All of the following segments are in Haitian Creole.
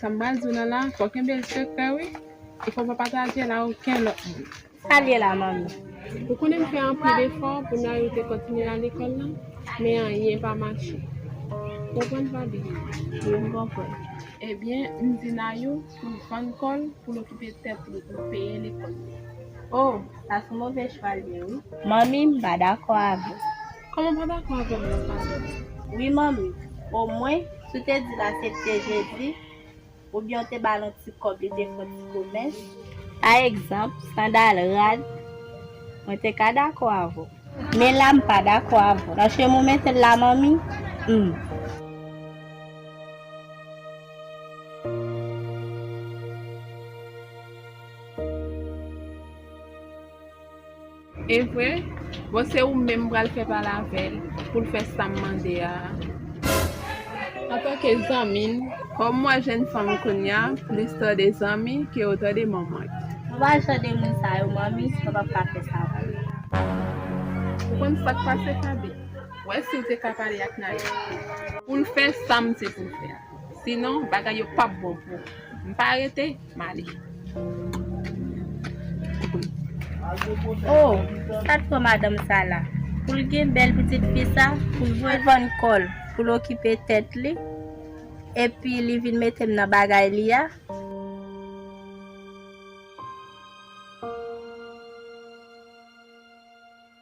Sam pral diw nan la fò kenbel sekrè wi e fò pa patajel a oken lòt moun. Sal ye la manmi? Ou konnen m fè anpil efò pou Nayou te kontinye al lekòl la men anyen pa mache ou konprann Faby? Wi m konprann. Ebyen m di Nayou pou l fann kò l pou l okipe tèt li pou l peye lekòl li. Oh sa son move chwa l ye wi. Manmi m pa dakò avèw. Kòman ou pa dakò avèm nan pale. Wi manmi, o mwen si w te di l asepte Jezi, oubyen w te ba l on ti kòb li te fon ti komès, pa egzanp, sandal, rad, mwen te ka dakò avè w. Men la m pa dakò avè w. Nan cheme w mete l la manmi? Humm. Evre? Bon se ou menm m pral fè pale avè l pou l fè sa m mande a a. Antanke zanmi l, kòm m wè jenn fanm kounya plis tande zanmi ke yo tande manman. Ou pa jan de moun sa yo manmi, mwen pap ka fè sa pou ou. Ou konn sa k pase Faby? Wè si w te ka pale ak Naya. Pou l fè sa m di pou l fè a. Sinon bagay yo pap bon pou ou. M pa rete? Male. Oh sat pran madanm sa la poul gen bèl pitit fi sa poul vwe vann kòl poul okipe tèt li epi li vin metem nan bagay li a.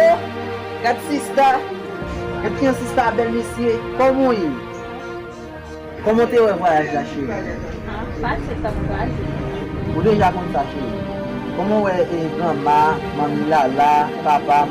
Oh gad sista gad kijan sista bèl mesye kòman w ye kòman w te wè vwayaj la cheri fasil tap kraze ou deja konn sa cheri kòman w wè granma manmi lala papa m.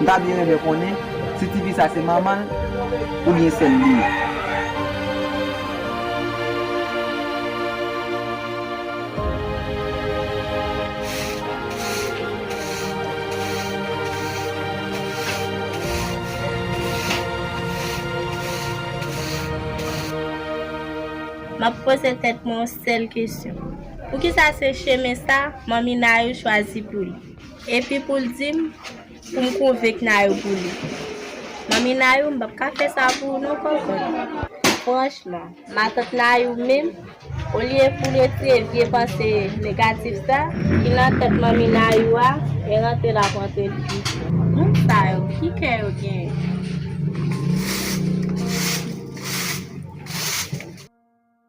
M ta byen renmen konnen si tifi sa se manman l oubyen sè l li ye. M ap poze tèt mwen yon sèl kesyon, poukisa se chemen sa Manmi Nayou chwazi pou li? Epi pou l di m pou m konvenk Nayou pou li. Manmi Nayou, m p ap ka fè sa pou ou non kòkòt. Franchman, matant Nayou menm, olye pou l retire vye panse negatif sa ki nan tèt manmi Nayou a, e rantre l ap rantre l pi fò. Moun sa yo, ki kè yo genyen?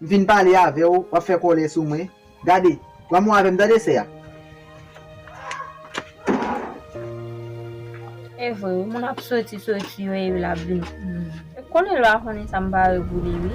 M vin pale avè w, w ap fè kòlè sou mwen. Gade, pran mo avè m tande, sè a. E vre wi, moun ap soti soti yo epi l ap vin. M konnen lwa konnen sa m pare pou li wi.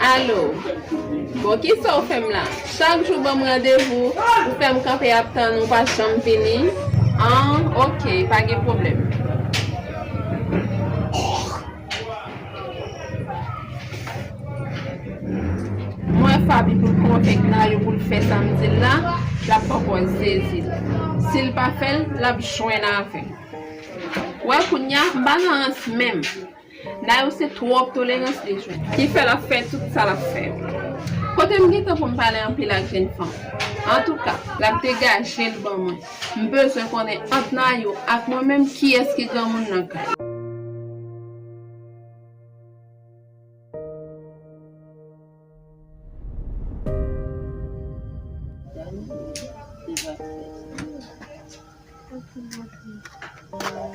Alo, bon kisa ou fèm la? Chak jou banm randevou, ou fèm kanpe ap tann ou pa janm vini? An, ok, pa gen pwoblèm. Mwen faby poul konvenk nayou poul fè sam dil la lap poko zezil sil pa fèl lap jwenn avèm ou wè kounya m pa nan rans menm nayou se twòp tolerans li jwenn ki fè lap fè tout sa lap fè yo kotem gentan poum pale anpil ak jèn fanm antouka lap degajel ban mwen. M bezwen konnen ant Nayou ak mwen menm kiyès ki granmoun nan kay.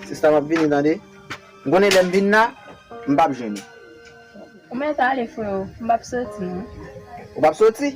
Sista map vini tande. M konnen lèm vin la m pap jwenn ou. Ou mèt ale freo m pap soti non. Ou pap soti?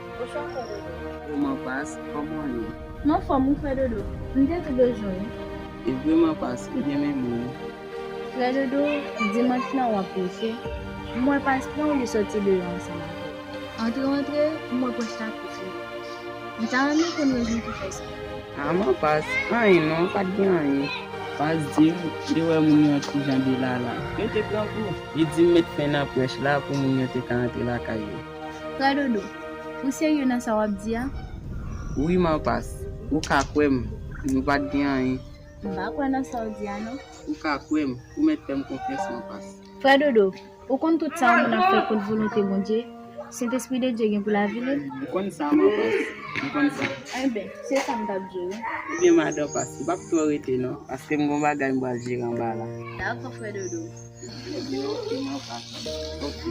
Bouchon fè dodo. Ou man pas, kòman w ye? M anfòm, ou fè dodo. M te tou bezwen w. E vre man pas, ou byen renmen m. Frè dodo, dimanch lan w ap preche, m wè pas pran w li sòti deyò ansanm avè w. Antre w antre, m wè pòch la kouvri. M ta renmen konn rezon ki fè sa. A man pas, anyen non, pa t gen anyen. Pas di m, li wè moun yo an ti jan delala. Yo te grangou. Li di m met fen nan prèch la pou moun yo te ka antre lakay yo. Frè Dodo, ou serye nan sa wap di a? Wi man Pas, ou ka kwè m, nou pat gen anyen. M pa kwè nan sa w di a non. Ou ka kwè m, ou mèt fè m konfyans man Pas. Frè Dodo, ou konn tout sa yon moun ap fè kont volonte Bondye, Sentespri de Dye gen pou lavi li? M konn sa man Pas, m konn sa. Enben, se sa m tap di w wi. Ebyen madan Pas, m pap twò rete non, paske m gon bagay m pral jere anba la. Dakò frè Dodo. Ebyen ok man Pas, ok.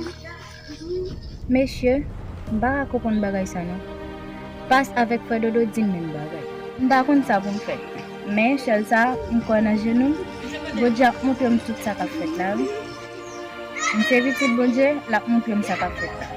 Mesye, m pa ka konprann bagay sa non. Pas avèk frè Dodo di m menm bagay. M pa konn sa pou m fè. Men, sèl sa, m kwè nan jenou m. Bondye ap montre m tout sa k ap fèt la wi. M se pitit Bondye, l ap montre m sa k ap fèt la.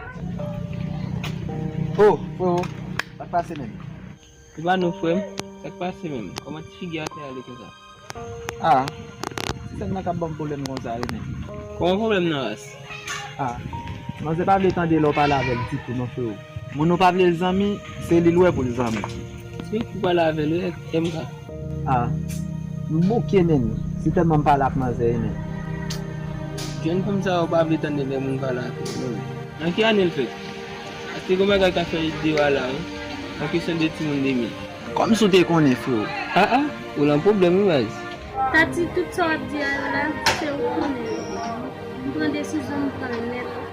Oh freo sak pase menm. Ou pa nou frem sak pase menm koman ti figi a fè ale konsa. Ah ti sèm nan kap banm pwoblèm konsa wi menm. Koman pwoblèm nan ras. Ah manzè pa vle tande lè ou pale avèl ditou non freo. Moun ou pa vlel zanmi se li l wè poul zanmi. Sim k pwale avèl wi ak MK. Ah m bouke menn se tèlman m pale ak manzè ye menn. Jèn fanm sa yo pa vle tande lè moun pale ak yo menm. Nan ki ane l fèt? Atis gon bagay kap fè idée w a la wi nan kesyon de timoun 2000. Kòmsi w te konnen freo? Ah ah ou lan pwoblèm wi baz. Tati tout sa wap di a yo la se ou ki konnen yo. M pran desizyon m pran l nèt.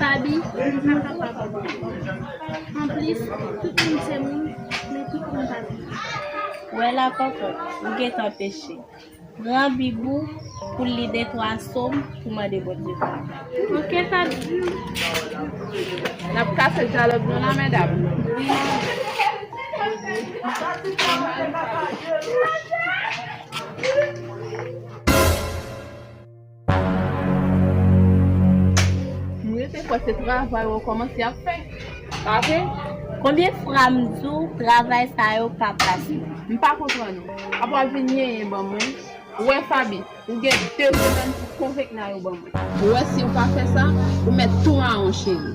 Faby ou pa kapab anplis tout moun se moun men tout moun pa bib. Wè la kòkòt ou gentan peche pran bib ou poul li de 3 som pou mande Bondye padon. Ok Faby. Nap kase dyalòg nou la medam. Wi nan. M rete kwè se travay ou kòmanse ap fè. Ok. Konbyen fra m di w travay sa yo pa pase. M pa konprann ou. Apa w ap vin yenyen ban mwen. Ou wè Faby, ou gen 2 zemenn pou konvenk Nayou ban mwen. Ou wè si ou pa fè sa, ou mèt tou mawon cheri.